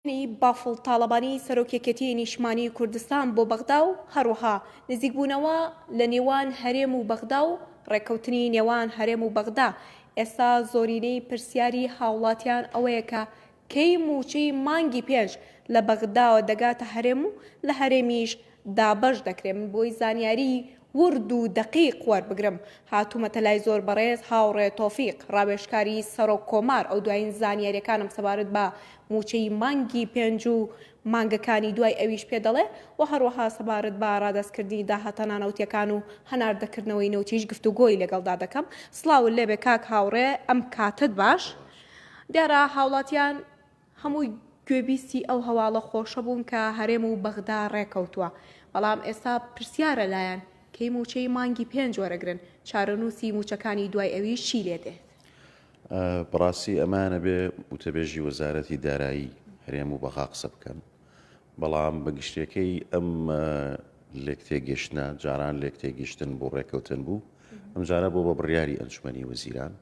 بافڵ تاڵەبانی سەرۆک یەکێتیی نیشتمانیی کوردستان بۆ بەغدا و هەروەها نزیکبوونەوە لە نێوان هەرێم و بەغدا و ڕێککەوتنی نێوان هەرێم و بەغدا، ئێستا زۆرینەی پرسیاری هاوڵاتیان ئەوەیە کە کەی مووچەی مانگی پێنج لە بەغداوە دەگاتە هەرێم و لە هەرێمیش دابەش دەکرێت من بۆی زانیاری ورد و دەقیق وەربگرم هاتومەتە لای زۆر بەڕێز هاوڕێ تۆفیق ڕاوێژکاری سەرۆک کۆمار ئەو دوایین زانیاریەکانم سەبارەت بە موچەی مانگی پێنج و مانگەکانی دوای ئەویش پێ دەڵێ و هەروەها سەبارەت بە ڕادەست کردنی داهاتە نانەوتیەکان و هەناردە کردنەوەی نەوتیش گفتوگۆی لەگەڵدا دەکەم سڵاوت لێبێ کاک هاوڕێ ئەم کاتەت باش دیارە هاوڵاتیان هەمووی گوێبیستی ئەو هەواڵە خۆشە بوون کە هەرێم و بەغدا ڕێکەوتووە، بەڵام ئێستا پرسیارە لایان کەی مووچەی مانگی پێنج وەرەگرن، چارەنووسی مووچەکانی دوای ئەویش چی لێ دێت؟ بەڕاستی ئەمان ئەبێ وتەبێژی وەزارەتی دارایی هەرێم و بەغا قسە بکەن، بەڵام بە گشتیەکەی ئەم لێکتێگەشتنە جاران لێکتێگشتن بوو ڕێکەوتن بوو، ئەمجارە بۆ بە بڕیاری ئەنجومەنی وەزیران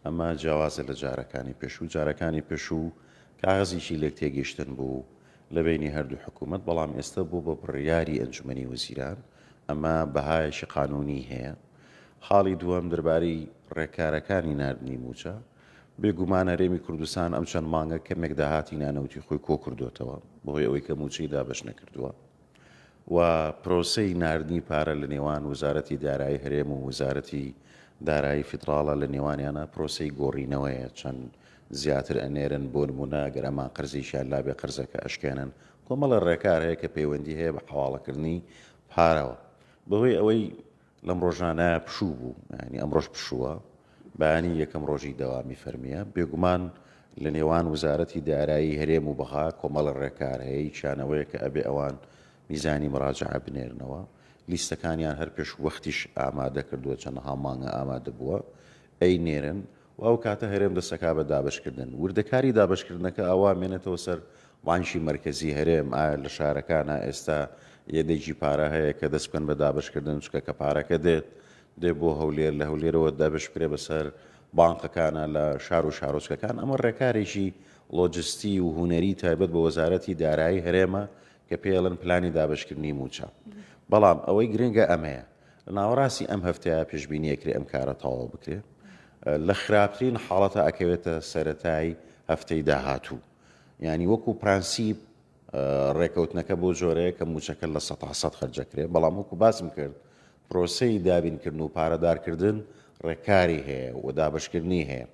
ئەمە جیاوازە لە جارەکانی پێشوو، جارەکانی پێشوو کاغەزێکی لێک تێگەیشتن بوو لە بەینی هەردوو حکوومەت، بەڵام ئێستە بووە بە بڕیاری ئەنجومەنی وەزیران، ئەمە بەهایەکی قانوونیی هەیە. خاڵی دووەم دەربارەی ڕێکارەکانی ناردنی مووچە، بێ گومان هەرێمی کوردستان ئەم چەند مانگە کەمێک داهاتی نانەوتی خۆی کۆ کردۆتەوە بە هۆی ئەوەی کە مووچەی دابەش نەکردووە، و پرۆسەی ناردنی پارە لە نێوان وزارەتی دارایی هەرێم و وزارەتی دارایی فیدڕاڵە لە نێوانیانا پرۆسەی گۆڕینەوەیە چەند زیاتر ئەنێرن بۆ نموونە ئەگەر ئەمان قەرزێکیان لابێ قەرزەکە ئەشکێنن کۆمەڵێ ڕێکار هەیە کە پەیوەندی هەیە بە حەواڵەکردنی پارەوە بەهۆی ئەوەی لەم ڕۆژانە پشوو بوو ینی ئەمڕۆژ پشووە بەیانی یەکەم ڕۆژی دەوامی فەرمیە بێگومان لە نێوان وزارەتی دارایی هەرێم و بەغا کۆمەڵە ڕێکار هەیە چیانەوەیە کە ئەبێ ئەوان میزانی مراجعە بنێرنەوە لیستەکانیان هەر پێش وەختیش ئامادە کردووە چەندەها مانگە ئامادە بووە ئەی نێرن و ئەو کاتە هەرێم دەستەکا بە دابەشکردن، وردەکاری دابەشکردنەکە ئاوا مێنێتەوە سەر بانکی مەرکەزی هەرێم، ئایا لە شارەکانا ئێستا یەدەگی پارە هەیە کە دەست بکەن بە دابەشکردن، چونکە کە پارەکە دێت دێ بۆ هەولێر، لە هەولێرەوە دابەشبکرێ بەسەر بانقەکانا لە شار و شارۆچکەکان، ئەمە ڕێکارێکی ڵۆجستی و هونەری تایبەت بە وەزارەتی دارایی هەرێمە کە پێی ئەڵێن پلانی دابەشکردنی موچە، بەڵام ئەوەی گرنگە ئەمەیە. لە ناوەڕاستی ئەم هەفتەیە پێشبینی ئەکرێ ئەم کارە تەواو بکرێ لە خراپترین حاڵەتە ئەکەوێتە سەرەتای هەفتەی داهاتوو ینی وەکو پرەنسیب ڕێکەوتنەکە بۆ جۆرەیە کە موچەکە لە سە سە خرجەکرێ بەڵام وەکو باسم کرد پرۆسی دابینکردن و پارەدارکردن ڕێکاری هەیە و دابشکردنی هەیە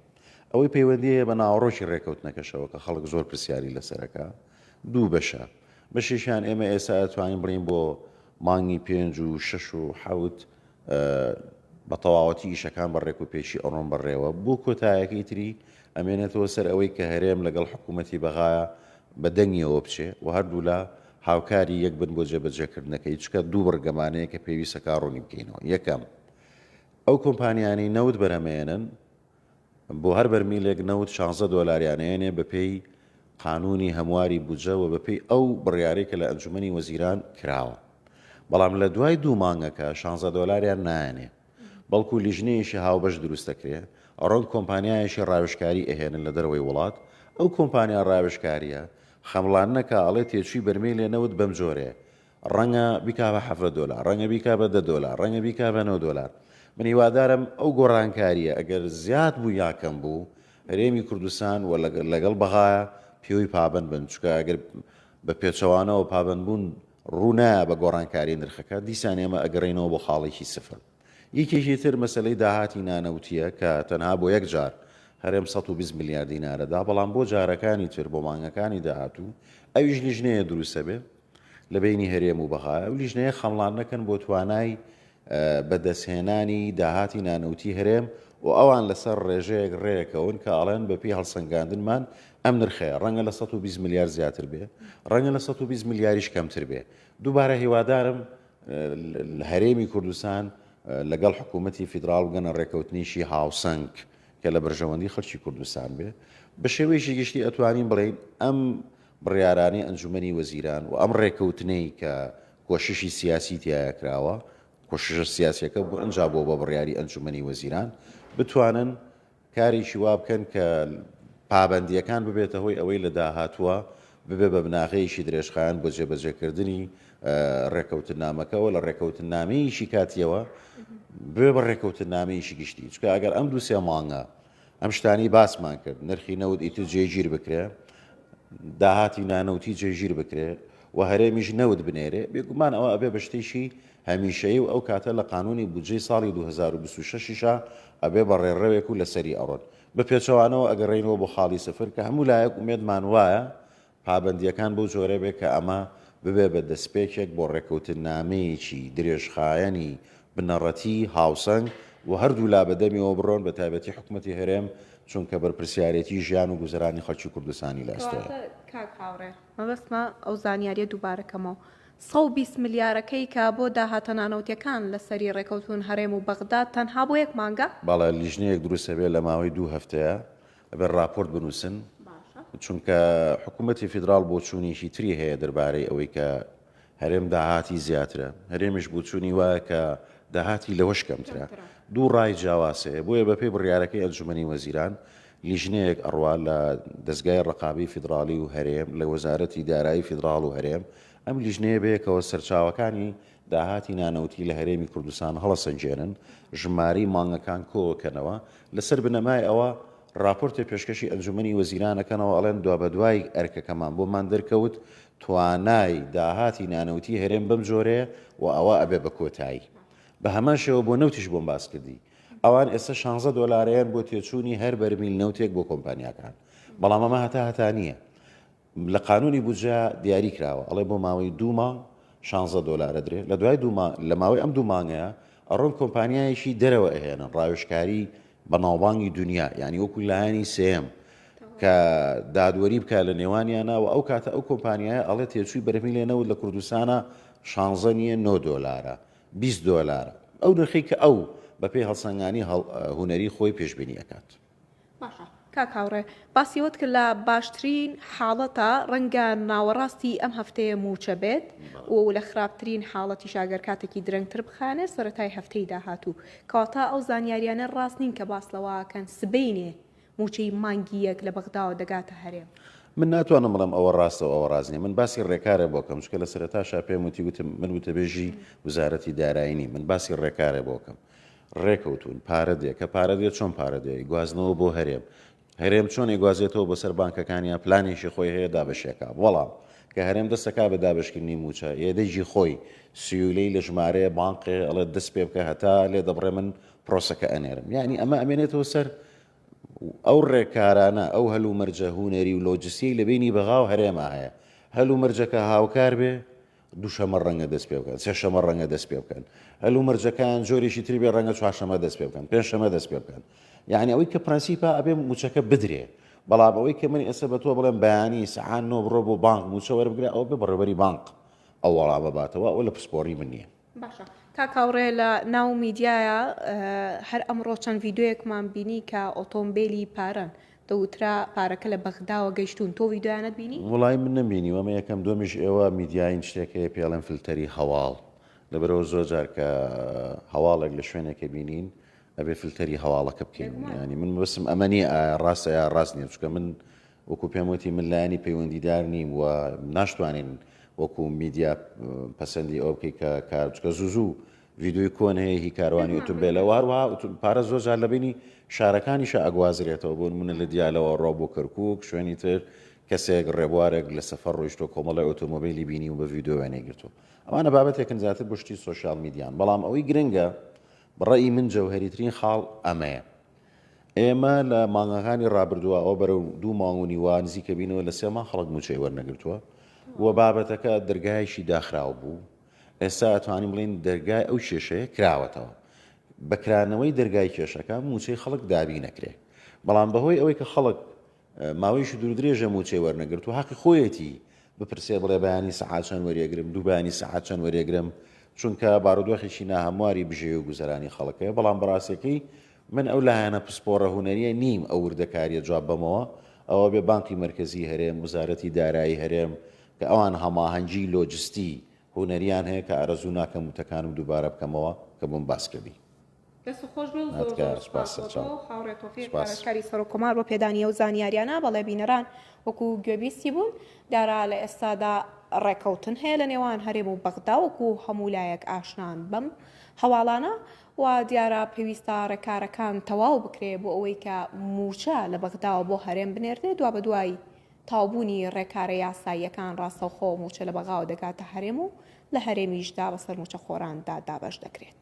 ئەوەی پەیوەندی هەیە بە ناوەڕۆکی ڕێکەوتنەکەشەوە کە خەڵک زۆر پرسیاری لەسەرەکە دوو بەشە بەشیشان ئێمە ئێستا توانین بڵین بۆ مانگی پێنج و شەش و حەوت بە تەواوەتی ئیشەکان بە ڕێک و پێکی ئەڕۆن بەڕێوە بۆ کۆتایەکەی تری ئەمێنێتەوە سەر ئەوەی کە هەرێم لەگەڵ حکوومەتی بەغایە بە دەنگیەوە بچێ و هەردوولا هاوکاری یەک بن بۆ جێبەجێکردنەکەی چکە دوو بڕگەمانەیە کە پێویستە کاڕوونی بکەینەوە یەکەم ئەو کۆمپانیانەی نەوت بەرهەمێنن بۆ هەر بەرمیلێک نەوت شانزە دۆلاریان ئەیەنێ بەپێی قانوونی هەمواری بودجە و بەپێی ئەو بڕیارەی کە لە ئەنجوومەنی وەزیران کراوە. بەڵام لە دوای دوو مانگەکە شانزە دۆلاریان نایەنێ بەڵکوو لیژنەیەکی هاوبەش دروست دەکرێ ئەڕۆن کۆمپانیایەکی ڕاوێژکاری ئەهێنن لە دەرەوەی وڵات ئەو کۆمپانیا ڕاوێژکارییە خەمڵاننەکا ئەڵێ تێچووی بەرمیلێ نەوت بەمجۆرەیە ڕەنگە بیکا بە حەڤدە دۆلار، ڕەنگە بیکا بە دە دۆلار، ڕەنگە بیکا بە نۆ دۆلار. من هیوادارم ئەو گۆڕانکارییە ئەگەر زیاد بوو یا کەم بوو، هەرێمی کوردستان و لەگەڵ بەغایە پێوەی پابەند بن، چونکە ئەگەر بە پێچەوانەوە پابەندبوون ڕوو نایە بە گۆڕانکاری نرخەکە، دیسان ئێمە ئەگەڕێینەوە بۆ خاڵێکی سفر. یەکێکی تر مەسەلەی داهاتی نانەوتییە کە تەنها بۆ یەک جار هەرێم سەد و بیست ملیار دینارە دا، بەڵام بۆ جارەکانی تر، بۆ مانگەکانی داهاتوو ئەویش لیژنەیە دروست ئەبێ، لە بەینی هەرێم و بەغا. ئەو لیژنەیە خەمڵان نەکەن بۆ توانای بە دەست هێنانی داهاتی نانەوتی هەرێم و ئەوان لە سەر ڕێژەیەک ڕێکەون کە ئەڵێن بە پێی هەڵسەنگاندنمان ئەم نرخەیە ڕەنگە لە سەد و بیست ملیار زیاتر بێ ڕەنگە لە سەد و بیست ملیاریش کەمتر بێ دووبارە هیوادارم هەرێمی کوردستان لەگەڵ حکوومەتی فیدراڵ بگەنە ڕێکەوتنیشی هاوسەنگ کە لە بەرژەوەندی خەڵکی کوردستان بێ بە شێوەیەکی گشتی ئەتوانین بڵین ئەم بڕیارانەی ئەنجومەنی وەزیران و ئەم ڕێکەوتنەی کە کۆششی سیاسی تیایا کراوە، کۆششە سیاسیەکە بئنجا بووە بە بڕیاری ئەنجومەنی وەزیران، بتوانن کارێکی وا بکەن کە پابەندییەکان ببێتە هۆی ئەوەی لە داهاتووە ببێ بە بناغەیەکی درێژخایەن بۆ جێبەجێکردنی ڕێکەوتننامەکە و لە ڕێکەوتننامەیەکی کاتییەوە ببێ بە ڕێکەوتننامەیەکی گشتی، چونکە ئەگەر ئەم دوو سێ مانگە ئەم شتانەی باسمان کرد نرخی نەوت ئیتر جێگیر بکرێ داهاتی نانەوتی جێگیر بکرێ و هەرێمیش نەوت بنێرێ بێگومان ئەوە ئەبێ بە شتێکی هەمیشەیە و ئەو کاتە لە قانونی بودجەی ساڵی 2026ا ئەبێ بە ڕێڕەوێک و لەسەری ئەڕۆن بە پێچەوانەوە ئەگەڕێنەوە بۆ خاڵی سفر کە هەموو لایەک ومێدمان وایە پابەندییەکان بەو جۆرە بێت کە ئەمە ببێت بە دەستپێکێک بۆ ڕێککەوتننامەیەکی درێژخایەنی بنەڕەتی هاوسەنگ و هەردوو لا بە دەمیەوە بڕۆن بە تایبەتی حکومەتی هەرێم چونکە بەرپرسیارێتی ژیان و گوزەرانی خەڵکی کوردستانی لە ئەستۆیە. کاک هاوڕێ مەبەستمە ئەو زانیارییە دووبارە کەمەوە، سەد و بیست ملیارەکەی کە بۆ داهاتە نانەوتییەکان لە سەری ڕێکەوتوون هەرێم و بەغداد تەنها بۆ یەک مانگە؟ بەڵێ لیژنەیەک دروست ئەبێت لە ماوەی دوو هەفتەیە ئەبێت ڕاپۆرت بنووسن چونکە حکوومەتی فیدرال بۆچوونیشی تری هەیە دەربارەی ئەوەی کە هەرێم داهاتی زیاترە هەرێمیش بچوونی وایە کە داهاتی لەوەش کەمترە دوو ڕای جیاواسەیە بۆیە بەپی بڕیارەکەی ئەنجومی وەزیران لیژنەیەک ئەڕوا لە دەستگای ڕقابی فیدراالی و هەرێم لە وەزارەتی دارایی فیدرااڵ و هەرێم ئەم لیژنەیە بەیەکەوە سەرچاوەکانی داهاتی نانەوتی لە هەرێمی کوردستان هەڵەسەنگێنن، ژمارەی مانگەکان کۆکەنەوە، لەسەر بنەمای ئەوە راپۆرتێ پێشکەشی ئەنجومەنی وەزیران ئەکەنەوە ئەڵێن دوابەدوای ئەرکەکەمان بۆمان دەرکەوت توانای داهاتی نانەوتی هەرێم بەم جۆرەیە و ئەوە ئەبێ بە کۆتایی بە هەمان شێوە بۆ نەوتیش بۆم باس کردی ئەوان ئێستا 16 دۆلارەیان بۆ تێچوونی هەر بەرمیل نەوتێک بۆ کۆمپانیاکان بەڵام ئەمە هەتا هەتا نییە لە قانونی بودجە دیاری کراوە ئەڵێ بۆ ماوەی دوو مانگ شانزە دۆلار ئەدرێ لە دوای دوو مانگ لە ماوەی ئەم دوو مانگەیا ئەڕۆن کۆمپانیایەکی دەرەوە ئەهێنن ڕاوێژکاری بەناوبانگی دونیا یانی وەکو لایەنی سێم کە دادوەری بکە لە نێوانیانە و ئەو کاتە ئەو کۆمپانیایە ئەڵێ تێچووی بەرهمی لێ نەوت لە کوردستانە شانزە نیە 9 دۆلارە 20 دۆلارە ئەو نرخی کە ئەو بەپێی هەڵسەنگانی هونەری خۆی پێشببینی ئەکات. باشە کاک هاوڕێ باسی ئەوەت کرد لە باشترین حاڵەتە ڕەنگە ناوەڕاستی ئەم هەفتەیە مووچە بێت و لە خراپترین حاڵەتی شاگەر کاتێکی درەنگتر بخانێ سەتای هەفتەی داهاتوو کەواتە ئەو زانیاریانە ڕاست نین کە باس لەواکەن سبینێ موچەی مانگی یەک لە بەغداوە دەگاتە هەرێم. من ناتوانم بڵێم ئەوە ڕاستە و ئەوە ڕاست نییە من باسی ڕێکارێ بۆ کەم چکە لە سەرەتاشا پێم وتی وتم من وتەبێژی وزارەتی دارایی نیم من باسی ڕێکارێ بۆ کەم ڕێکەوتوون پارە دێ کە پارە دێ چۆن پارە دێ ئەیگوازنەوە بۆ هەرێم هەرێم چۆن ئەیگوازێتەوە بۆ سەر بانکەکان یا پلانێکی خۆی هەیە دابەشیەکا وەڵام کە هەرێم دەستەکا بە دابەشکردنی مووچە ئێ دەیجی خۆی سیولەی لە ژمارەیە بانقێ ئەڵێ دەست پێ بکە هەتا لێ دەبڕێ من پرۆسەکە ئەنێرم یعنی ئەمە ئەمێنێتەوە سەر ئەو ڕێکارانە ئەو هەل و مەرجە هوونەری و لۆجسیەی لە بینی بەغاو هەرێما هەیە هەل و مەرجەکە هاوکار بێ دووشەمە ڕەنگە دەست پێ بکەن، سێشەمە ڕەنگە دەست پێ بکەن. هەلومەرجەکان جۆرێکی تری بێ ڕەنگە چوارشەمە دەست پێ بکەن، پێنجشەمە دەست پێ بکەن. یعنی ئەوەی کە پرەنسیپە ئەبێ مووچەکە بدرێ. بەڵام ئەوەی کە من ئێستا بە تۆ بڵێم بەیانی سەعات نۆ بڕۆ بۆ بانک مووچە وەربگرە ئەوە بێ بەڕێوەبەری بانک ئەو وەڵامە باتەوە، ئەوە لە پسپۆڕی من نییە. باشە کاک هاوڕێ لە ناو میدیایە هەر ئەمڕۆ چەند ڤیدیۆیەکمان بینی کە ئۆتۆمبێلی پارەن، دەوترا پارەکە لە بەغداوە گەیشتوون تۆ ڤیدۆیانەت بینی؟ وەڵای من نەمبینی و ئەمە یەکەم دوەمیش ئێوە میدیاین شتێک هەیە پێڵێن فلتەری هەواڵ لەبەرەوە زۆر جار کە هەواڵێک لە شوێنێکە بینین ئەبێ فلتەری هەواڵەکە بکەین ینی من بەسم ئەمە نیە ئایا ڕاستە یا ڕاست نیە چکە من وەکو پێم وتی من لایەنی پەیوەندیدار نیم و ناشتوانین وەکو میدیا پەسەندی ئەو بکەی کە کارچکە زوو زوو ڤیدیۆی کۆن هەیە هی کاروانی ئوتومبێلە و هەروەها پارە زۆر جار لە بینی شارەکانیشە ئەگوازرێتەوە بۆ نمونە لە دیالەوە ڕۆ بۆ کەرکک شوێنی تر کەسێک ڕێبوارێک لە سەفەر ڕۆیشتۆ کۆمەڵی ئۆتۆمۆبیلی بینی و بە ڤیددیو وێنەی گرتو ئەمانە بابەتێکن زیاتر بشتی سوسیال میدیان بەڵام ئەوەی گرنگە بڕی من جەوهریترین خاڵ ئەمەیە ئێمە لە مانگەکانی ڕابردووە ئەو بەرەو دوو مانگونی وان زیکەبینەوە لە سێمان خەڵک موچەی وەرنەگرتووە و بابەتەکە دەرگایشی داخراو بوو ئێستا ئەتوانین بڵێین دەرگای ئەو کێشەیە کراوەتەوە. بە کرانەوەی دەرگای کێشەکە مووچەی خەڵک دابین نەکرێ. بەڵام بە هۆی ئەوەی کە خەڵک ماوەیەکی دووردرێژە مووچەی وەرنەگرتووە هەقی خۆیەتی بپرسێ بڵێ بەیانی سەعات چەند وەرێگرم دوو بەیانی سەعات چەند وەرێگرم چونکە بارودۆخێکی ناهەمواری بژێوی و گوزەرانی خەڵک هەیە بەڵام بەڕاستیەکەی من ئەو لایەنە پسپۆڕە هونەریە نیم ئەو وردەکاریە جواب بەمەوە ئەوە بێ بانقی مرکزی هەرێم وزارەتی دارایی هەرێم کە ئەوان هەماهەنگیی لۆجستیی هونەرییان هەیە، کە ئارەزوو ناکەم وتەکانم دووبارە بکەمەوە کە بۆم باس کردی. دەست خۆش بێ و زۆر زۆر سوپاس بۆ تۆ و هاوڕێ تۆفیق پارێزکاری سەرۆک کۆمار بۆ پێدانی ئەو زانیاریانە، بەڵێ بینەران وەکو گوێبیستی بوون، دارا لە ئێستادا ڕێکەوتن هەیە لە نێوان هەرێم و بەغدا وەکو هەموو لایەک ئاشنان بەم هەواڵانە و دیارە پێویستە ڕێکارەکان تەواو بکرێ بۆ ئەوەی کە مووچە لە بەغداوە بۆ هەرێم بنێردرێ دوابەدوای تەواوبوونی ڕێکارە یاساییەکان ڕاستەوخۆ مووچە لە بەغاوە دەگاتە هەرێم و لە هەرێمیشدا بەسەر مووچەخۆراندا دابەش دەکرێت.